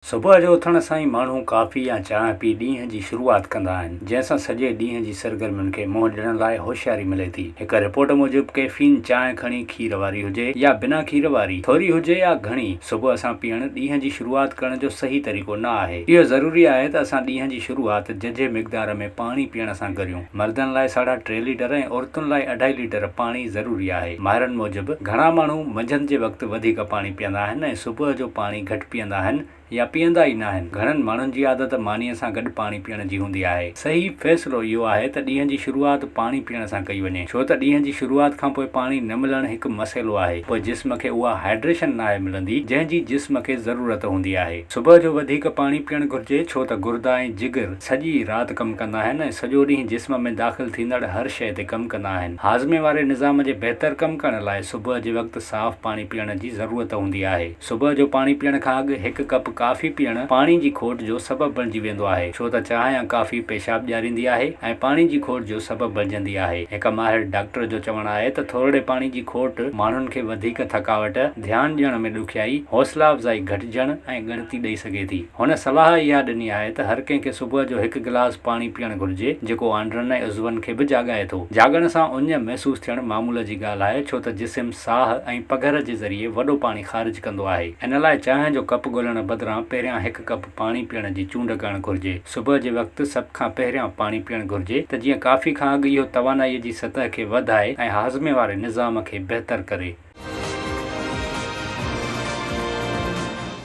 صبح جو اٿڻ سان ئي ماڻهو ڪافي يا چانهه پي ڏينهن جي شروعات ڪندا آهن، جنهن سان سڄي ڏينهن جي سرگرمين کي منهن ڏيڻ لاء هوشياري ملي ٿي. هڪ رپورٽ موجب ڪيفين چانهه کڻي کير واري هجي يا بنا کير واري، ٿوري هجي يا گهڻي، صبح سان پيئڻ ڏينهن جي شروعات ڪرڻ جو صحيح طريقو نه آهي. اهو ضروري آهي ته اسان ڏينهن جي شروعات ججهي مقدار ۾ پاڻي پيئڻ سان ڪريون. مردن لاء ساڍا ٽي ليٽر ۽ عورتن لاء اڍائي ليٽر پاڻي ضروري آهي. ماهرن موجب گهڻا ماڻهو منجهند جي وقت وڌيڪ پاڻي پيئندا آهن ۽ صبح جو پاڻي گهٽ پيئندا آهن يا پيئندا ئي ناهن. گهڻن ماڻهن جي عادت مانيء سان گڏ پاڻي پيئڻ جي هوندي آهي. صحيح فيصلو اهو آهي ته ڏينهن جي شروعات پاڻي پيئڻ سان ڪئي وڃي، ڇو ته ڏينهن جي شروعات کانپوء پاڻي نه ملڻ هڪ مسئلو آهي، پوء جسم کي اها هائيڊريشن ناهي ملندي، جنهن جي جسم کي ضرورت هوندي آهي. صبح جو وڌيڪ پاڻي پيئڻ گهرجي، ڇو ته گردا ۽ جگر سڄي رات ڪم ڪندا آهن ۽ سڄو ڏينهن جسم ۾ داخل ٿيندڙ هر شيء تي ڪم ڪندا آهن. هاضمي واري نظام جي بهتر ڪم ڪرڻ لاء صبح جي وقت صاف پاڻي پيئڻ جي ضرورت هوندي آهي. صبح جو پاڻي پيئڻ کان اڳ هڪ ڪپ ڪافي پيئڻ پاڻي جي کوٽ جو سبب بڻجي ويندو آهي، ڇو ته چانهه يا ڪافي پيشاب ڄاريندي آهي ۽ پاڻي جي کوٽ جو سبب بڻجندي آهي. هڪ ماهر ڊاڪٽر جو چوڻ آهي ته ٿورڙي پاڻي جي کوٽ ماڻهن کي وڌيڪ ٿڪاوٽ، ڌيان ڏيڻ ۾ ڏکيائي، حوصلا افزائي گهٽجڻ ۽ ڳڻتي ڏئي سگهي ٿي. هن صلاح اها ڏني آهي ته هر ڪنهن کي صبح جو هڪ گلاس پاڻي پيئڻ گهرجي، جيڪو آنڊرن ۽ عضون کي به جاڳائي ٿو. جاڳڻ سان اڃ محسوس ٿيڻ معمول جي ڳالهه آهي، ڇو ته جسم ساهه ۽ پگهر جي ذريعي وڏو پاڻي خارج ڪندو آهي. ان لاء چانهه جو ڪپ ڳولڻ بدران پهريان هڪ ڪپ پاڻي پيئڻ جي چونڊ ڪرڻ گهرجي. صبح جي وقت سڀ کان پهريان پاڻي پيئڻ گهرجي ته جيئن ڪافي کان اڳ اهو توانائيء جي سطح کي وڌائي ۽ هاضمي واري نظام کي بهتر ڪري.